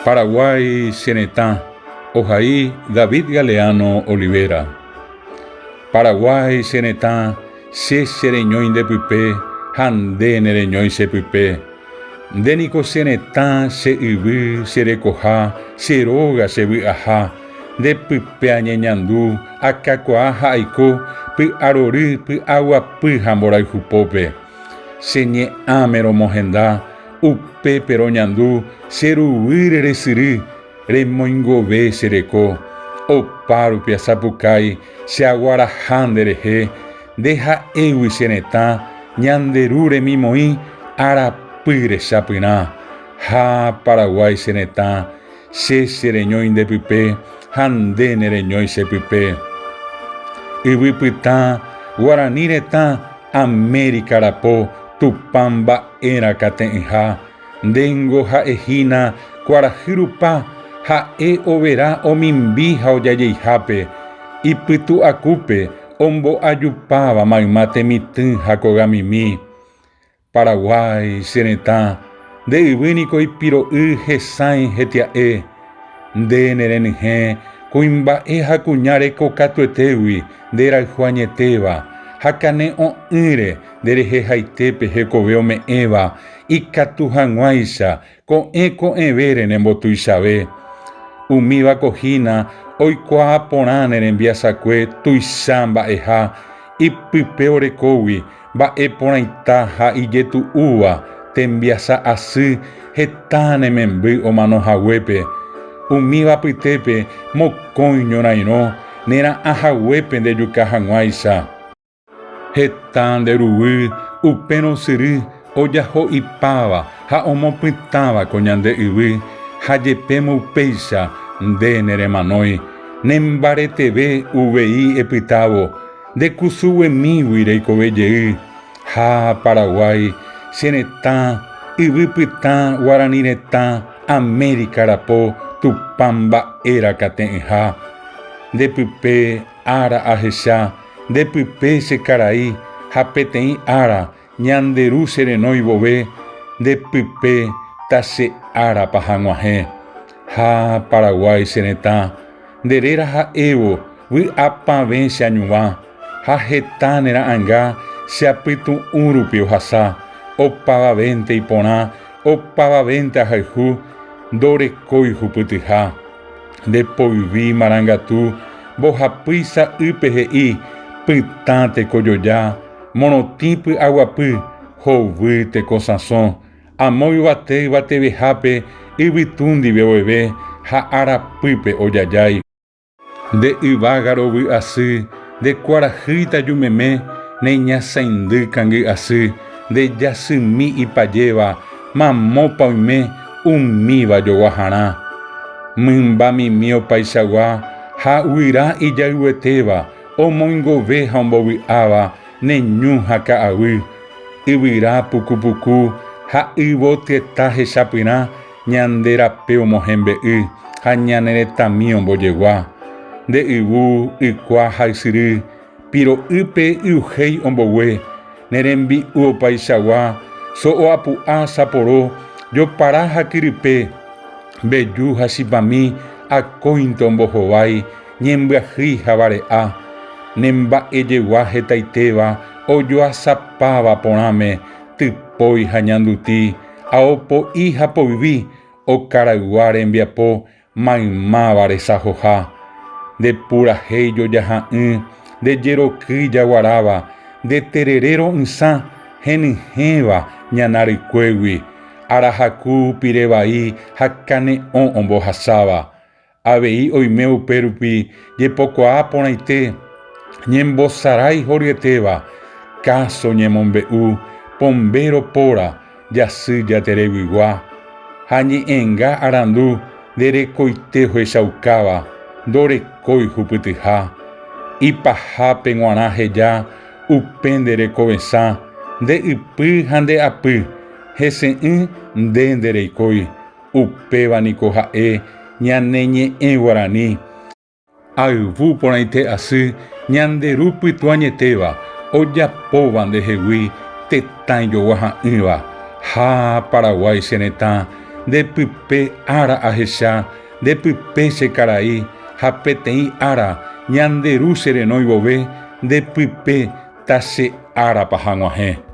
Paraguái che retã, ohai David Galeano Olivera. Paraguái che retã, che chereñói nde pype ha nde nereñói che pype. Nde niko che retã, che yvy, che rekoha, che róga, che vy'aha. Nde pype añeñandu, akakuaa ha aiko py'arory, py'aguapy ha mborayhu pópe. Che ñe'ãme romohenda, upépe roñandu che ruguýre resyry, remoingove che reko. Opárupi asapukái che aguaraha nde rehe, nde ha'égui che retã, ñande ru remimoĩ arapy rechapyrã. Ha Paraguái che retã. Che chereñói nde pype ha nde nereñói che pype. Yvy pytã, Guarani retã, Amérika rapo, Tupã mba'erã kate'ỹha, ndéngo ha'ehína kuarahy rupa, ha'e overa omimbi ha ojajeihápe, ipytu'akúpe, ombo'ajupáva mayma temitỹ ha kogamimi. Paraguái, che retã, nde yvy niko ipiro'y hesãi hetia'e. Nde nerenyhẽ kuimba'e ha kuña reko katuetégui nde rayhu añetéva, ha kane'õ'ỹre nde rehe haitépe hekove ome'ẽva ikatu hag̃uáicha Ko'ẽ ko'ẽve renembotuichave, umíva ko hína oikuaa porã ne rembiasakue tuicha mba'eha ipype orekógui, mba'e porãita ha ijetu'úva tembiasa asy heta ne memby omano haguépe. Umíva pytépe mokõi ñorairõ nera'ã haguépe ndejuka hag̃uáicha. Heta nde ruguy upérõ syry ojaho ipáva ha omopytãva ko ñande yvy, ha jepémo upéicha nde neremanói, nembareteve uvei epytávo, nde kusuguemígui reikove jey, ha Paraguái, che retã, yvy pytã Guarani retã, Amérika rapo Tupã mba'e rakate'ỹha, nde pype, Ára ahecha nde pype che karai ha peteĩ ára ñande ru che renói vove nde pype ta che árapa hag̃uahẽ. Ha Paraguái che retã nde réra ha'évo vy'apavẽ che añuva ha heta ne ra'anga che apytu'ũ rupi ohasa opavavénte iporã opavavénte ahayhu ndorekói hupytyha. Nde poyvi marangatu mbohapýi sa'ýpe he'i pytã tekojoja, morotĩ py'aguapy, hovy tekosãsõ, amo yvate yvatevehápe yvytu ndive oeve ha arapýpe ojajái. Nde yvága rovy asy nde kuarahýita jumeme, ne ñasãindy kangy asy nde jasymi ipajéva Mamópa oime umíva joguaharã, mymba mimi opaichagua ha guyra ijayguetéva omoingove ha ombovy'áva ne ñu ha ka'aguy, yvyra puku puku ha yvoteta hechapyrã ñande rape omohembe'y ha ñane retãmi ombojegua, nde yvu, ykua ha ysyry, Piro'ýpe yruhéi ombogue, ne rembi'u opaichagua, so'o apu'a, saporo, jopara ha kyrype, mbeju ha chipami akóinte ombohovái, ñembyahýi ha vare'a, ne mba'ejegua hetaitéva ojoasapáva porãme, typói ha ñanduti, ao po'i ha poyvi, okaraygua rembiapo Maymáva resajoha, nde purahéi jojaha'ỹ, nde jerokýi jaguaráva, nde terere ro'ysã, henyhẽva ñana rykuégui, arahaku pire vai ha kane'õ ombohasáva. Avei oime upérupi jepokuaa porãite, ñembosarái horyetéva, káso ñemombe'u, pombéro póra, jasy jatereguigua ha ñe'ẽnga arandu nde rekoite ohechaukáva ndorekói hupytyha, ipahápe g̃uarã heja upe nde rekovesã nde ypy ha nde apy, hese'ỹ nde nde reikói, upéva niko ha'e ñane ñe'ẽ guarani. Ayvu porãite asy ñande Ru Pytuañetéva ojapóva ndehegui tetã ijogua ha'ỹva, ha Paraguái che retã nde pype ára ahecha nde pype che karai ha peteĩ ára ñande Ru che renói vove nde pype ta che árapa haguãhe.